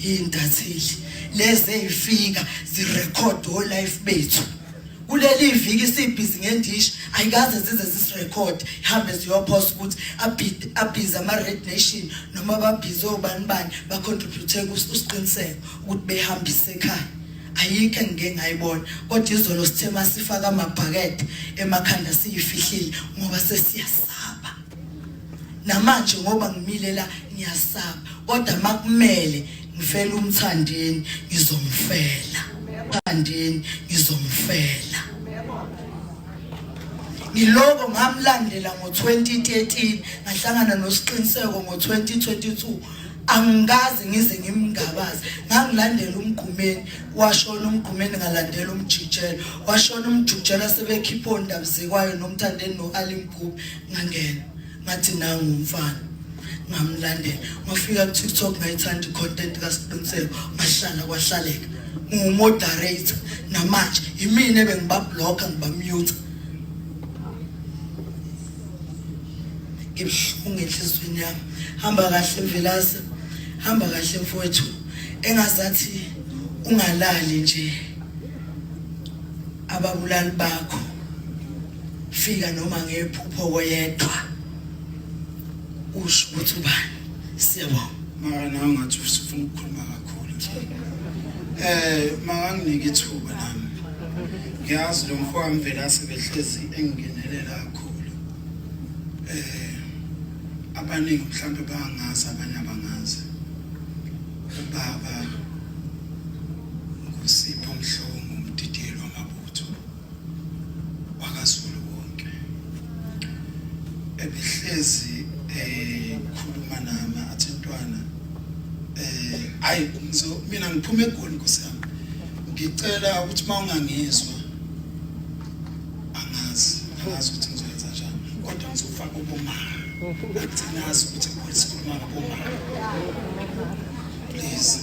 iy'ntatheli lezi ey'fika zirekhode olife bethu kuleli viki sibhizi ngendishi ayikaze zize zisirekhode ihambe ziyophosa ukuthi abhize ama-red nation noma babhize obani bani bacontribute usiqiniseko ukuthi behambise ekhaya ayikho engike ngayibona kodwa izolo sithe masifaka amabhakede emakhanda siyifihlile ngoba sesiyasa namanje ngoba ngimile la ngiyasaba kodwa makumele ngifela umthandeni ngizomfela umthandeni ngizomfela ngiloko ngamlandela ngo-2013 ngahlangana nosiqiniseko ngo-2022 angikaze ngize ngimngabaze ngangilandela umgqumeni washona umgqumeni ngalandela umjijela washona umjijela sebekhipha ondabuzekwayo nomthandeni no-alim ngangena ngathi nangu umfana ngamlandela ngafika ku TikTok ngayithanda content kaSiqiniseko ngahlala kwahlaleka ngumoderator namanje yimina bengiba blocker ngiba mute ngibuhlungu enhlizweni yami hamba kahle mvelase hamba kahle mfowethu engazathi ungalali nje ababulali bakho fika noma ngephupho koyedwa usho ukuthi ubani siyabonga mara nawe ngathi usifuna ukukhuluma kakhulu eh makanginike ithuba nami ngiyazi lo mfowami vele asebehlezi engingenelela kakhulu eh abaningi mhlawumbe bangazi abanye abangazi ubaba wakazulu wonke ebihlezi ekhuluma eh, nami athi ntwana eh hayi ngizo mina ngiphuma egoli nkosi yami ngicela ukuthi mawungangizwa angazi angazi ukuthi ngizoyenza njani kodwa ngizofaka uboma ngicinazi ukuthi ngisikhuluma ngoboma please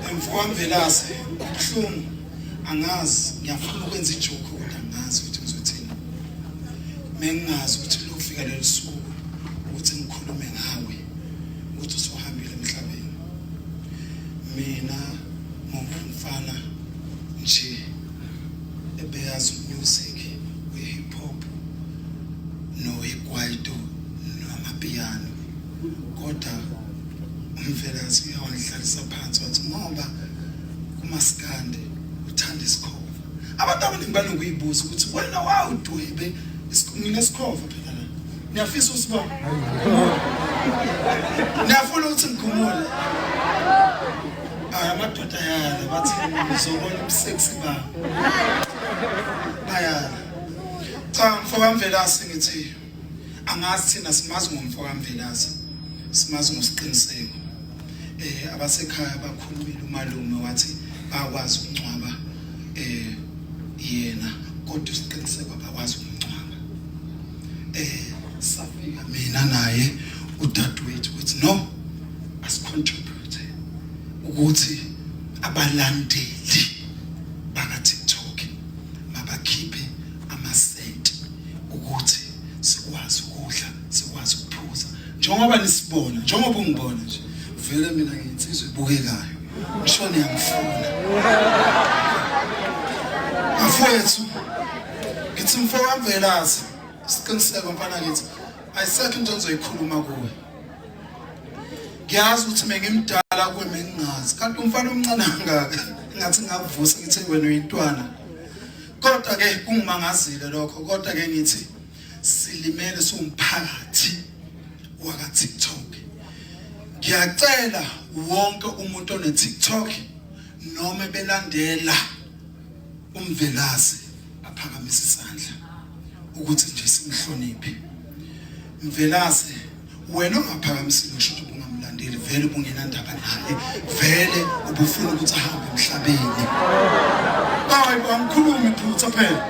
emfowamvelase kubuhlungu angazi ngiyafuna ukwenza ijoke kodwa angazi ukuthi ngizothini mengingazi ukuthi lokufika leli suku ukuthi ngikhulume ngawe ukuthi usuhambile emhlabeni mina ngumfana nje ebeyazi music we hip hop no ikwaito no amapiano kodwa umfelakazi uyawandlalisa phansi wathi ngoba umaskandi uthanda isikhova abantu abaningi banokuyibuza ukuthi wena wawudwebe nginesikhova phela la niyafisa usibona niyafuna ukuthi ngikhumule hayi amadoda ayala bathi ngizobona ubuseksi ba bayala cha mfokamvelasi ngithi angazi thina simazi ngomfo kaMvelase simazi ngosiqiniseko eh abasekhaya bakhulumile umalume wathi bakwazi ukungcwaba eh yena kodwa isiqiniseko abakwazi ukungcwaba eh safika mina naye udadewethu ukuthi no asicontribute ukuthi abalandeli baka TikTok mabakhiphe amasenti ukuthi sikwazi ukudla sikwazi ukuphuza njengoba nisibona njengoba ungibona nje vele mina nginsizwe ibukekayo ngisho niyangifuna mfowethu ngithi mfowethu velazi siqiniseko mfana ngithi ayisekho into engizoyikhuluma kuwe ngiyazi ukuthi mengimdala kuwe mengingazi kanti umfana omncane kangaka ngathi ngakuvusa ngithe wena uyintwana kodwa ke kungumangazile lokho kodwa ke ngithi silimele siwumphakathi waka TikTok ngiyacela wonke umuntu one TikTok noma belandela umvelazi aphakamise isandla ukuthi nje simhloniphe mvelazi wena ongaphakamisile usho ukuthi ubungamlandeli vele ubungenandaba naye vele ubufuna ukuthi ahambe emhlabeni hayi angikhulumi phutha phela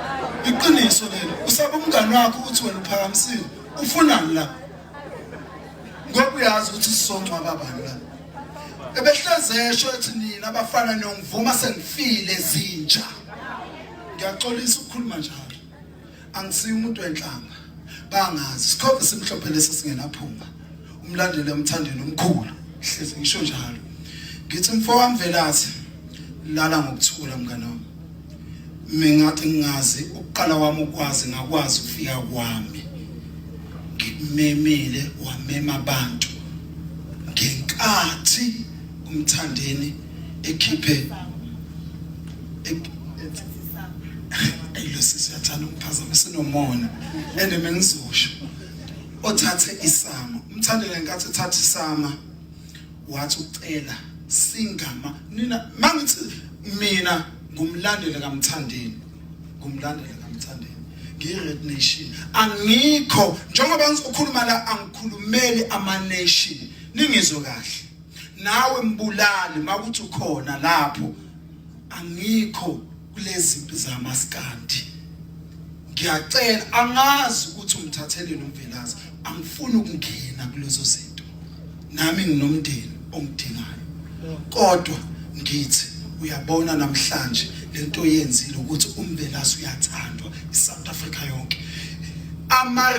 iqiniso lelo usaba umngani wakho ukuthi wena uphakamisile ufunani la ngoba uyazi ukuthi sizongcwaba bani la ebehleze esho ethi nina abafana niyongivuma sengifile zinja ngiyaxolisa ukukhuluma njalo angisiyo umuntu wenhlamba bangazi sikhombe simhlophe lesi singenaphunga umlandele umthandele umkhulu hlezi ngisho njalo ngithi mfowami velathi lala ngokuthula mngane wami mingathi ngingazi ukuqala wami ukwazi ngakwazi ukufika kwami ngimemile wamema abantu ngenkathi umthandeni ekhiphe ayilo sisi uyathanda ukuphazamisa nomona and mengizosho othathe isama umthandela nkathi uthatha isama wathi ucela singama nina mangithi mina ngumlandeli kamthandeni ngumlandeli kamthandeni ngiyi-red nation angikho njengoba ngizokhuluma la angikhulumeli ama-nation ningizwe kahle nawe mbulali makuthi ukhona lapho angikho kulezi mpi zamaskandi ngiyacela angazi ukuthi umthatheleni umvelazi angifuni ukungena kulezo zinto nami nginomndeni ongidingayo kodwa ngithi uyabona namhlanje lento yenzile ukuthi umvelazi uyathandwa iSouth Africa yonke ama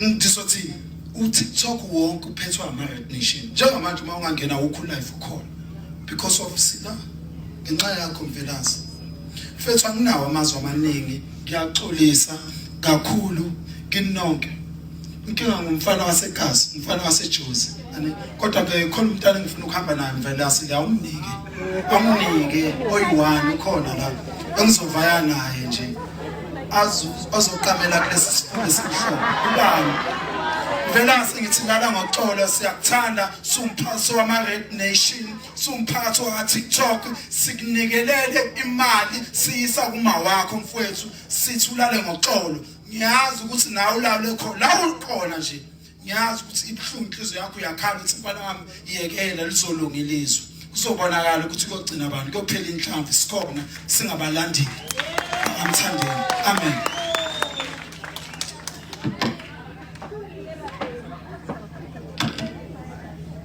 ngizothini uTikTok wonke uphethwe ama-Red Nation njengamanje uma ungangena wukho live ukhona because of sila ngenxa yakho mvelase mfethu anginawo amazwi amaningi ngiyaxolisa kakhulu kinonke inkinga ngumfana wasegazi umfana wasejozi kodwa ke khona umntana engifuna ukuhamba naye mvelase liyawumnike amnike oyi-one ukhona la engizovaya naye nje azoqamela kulesi sifundo esimhlophe ubani velase ngithi lala ngoxolo siyakuthanda sumphathi wama-red nation sumphathi waka-tiktok sikunikelele imali siyisa kuma wakho mfowethu sithi ulale ngoxolo ngiyazi ukuthi nawe ulawule khona la ukhona nje ngiyazi ukuthi ibuhlungu inhliziyo yakho uyakhala ukuthi mfana wami iyekela lizolunga ilizwe kuzobonakala ukuthi kuyogcina abantu kuyophela inhlamvu sikhona singabalandeli amthandeni amen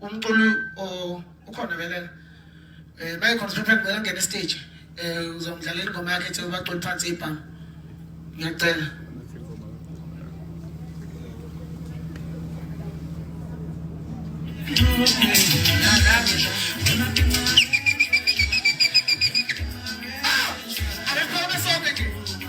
umculi ukhona vele um mayecontrapent kumele angene istage um uzongidlalela ingoma yakhe ethi ubaculi phansi ibhanga ngiyacela Thank you.